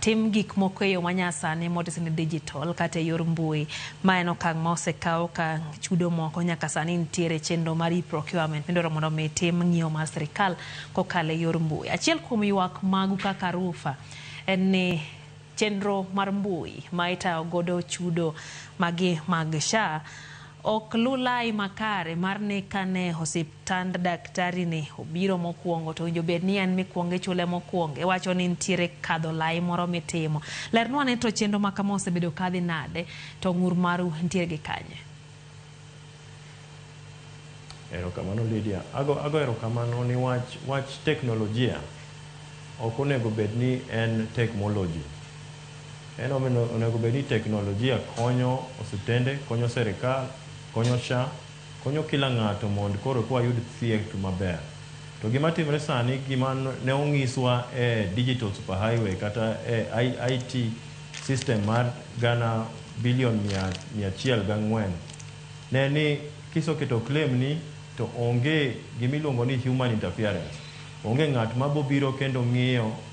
Tim gik moko e yo manyasani motis ni digital kata e yor mbui. Ma en okang' ma osekaw ka chudo moko nyaka sani nitiere e chenro mar e-procurement midwaro mondo omi itim ng'iewo mar sirkal kokalo e yor mbui. Achiel kuom ywak magu kaka Rufa en ni chenro mar mbui ma itayo godo chudo magi mag SHA Ok lu lai makare mar ni kane osiptand daktari ni obiro mokuongo to owinjo bed ni en mikuongo ichule mokuongo iwacho ni nitiere kadho lai moro mitimo. Lernwa ane to chenro makama osebedo kadhi nade to ng'ur maru nitiere gi kanye? Erokamano Lydia. Ago, ago erokamano niwach wach teknolojia ok onego bed ni en tekmoloji. En omiyo onego bed ni teknolojia konyo osiptende, konyo serikal, konyo SHA, konyo kila ng'ato mond koro eka wayud thieth maber. To gima timre sani gima ne ong'iswa e digital super highway kata e IT system mar gana billion mia mia achiel gi ang'wen ne ni kisoketo claim ni to onge gima iluongo ni human interference. Onge ng'at ma bobiro kendo ng'iyo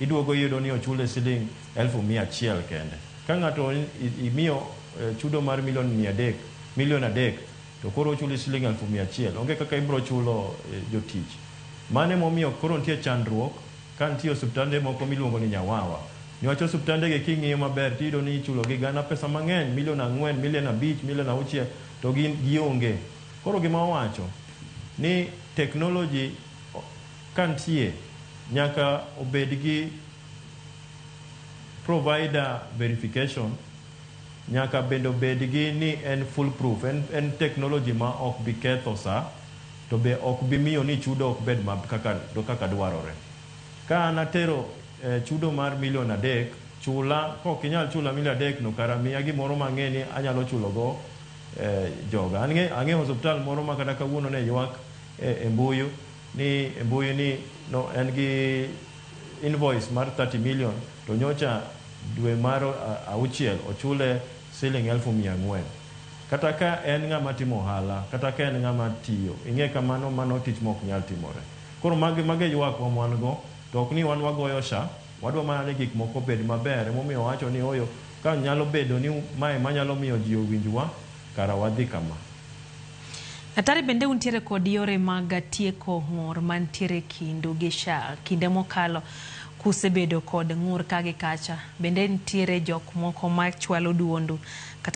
Iduogo iyudo ni ochule siling elfu mia achiel kende. Ka ng'ato imiyo chudo mar milion mia adek, milion adek to koro ochuli siling elfu mia achiel, onge kaka ibiro chulo jotich. Mano ema omiyo koro nitie chandruok ka nitie osiptande moko miluongo ni nyawawa. Niwach osiptandegi king'iyo maber to iyudo ni ichulogi gana pesa mang'eny, milion ang'wen, milion abich, milion auchiel to gionge. Koro gima wawacho ni technology. Ka nitie, nyaka obed gi provider verification, nyaka bende obed gi ni en full proof, en en technology ma ok bi ketho sa to be ok bi miyo ni chudo ok bed ma kaka kaka dwarore. Ka an atero chudo mar million adek, chula kok inyal chula million adek no kara miya gimoro ma ang'e ni anyalo chulo go joga. Ang'e ang'e osuptal moro ma kata kawuono ne ywak e mbuyu. ni e mbui ni no en gi invoice mar thirty million to nyocha dwe mar auchiel ochule siling elfu mia ang'wen. Kata ka en ng'ama timo ohala kata ka en ng'ama tiyo ing'e kamano mano tich ma ok nyal timore. Koro magi mago e yuakwa ma wan go to ok ni wan wagoyo sha wadwa mana ni gik moko obed maber ema omiyo wawacho ni ooyo ka nyalo bedo ni ma ema nyalo miyo ji owinjwa kara wadhi kama. Atari bende untiere kod yore mag tieko ng'ur mantiere e kindu gi SHA kinde mokalo kusebedo kod ng'ur ka gi kacha. Bende nitiere jok moko machwalo duondu kata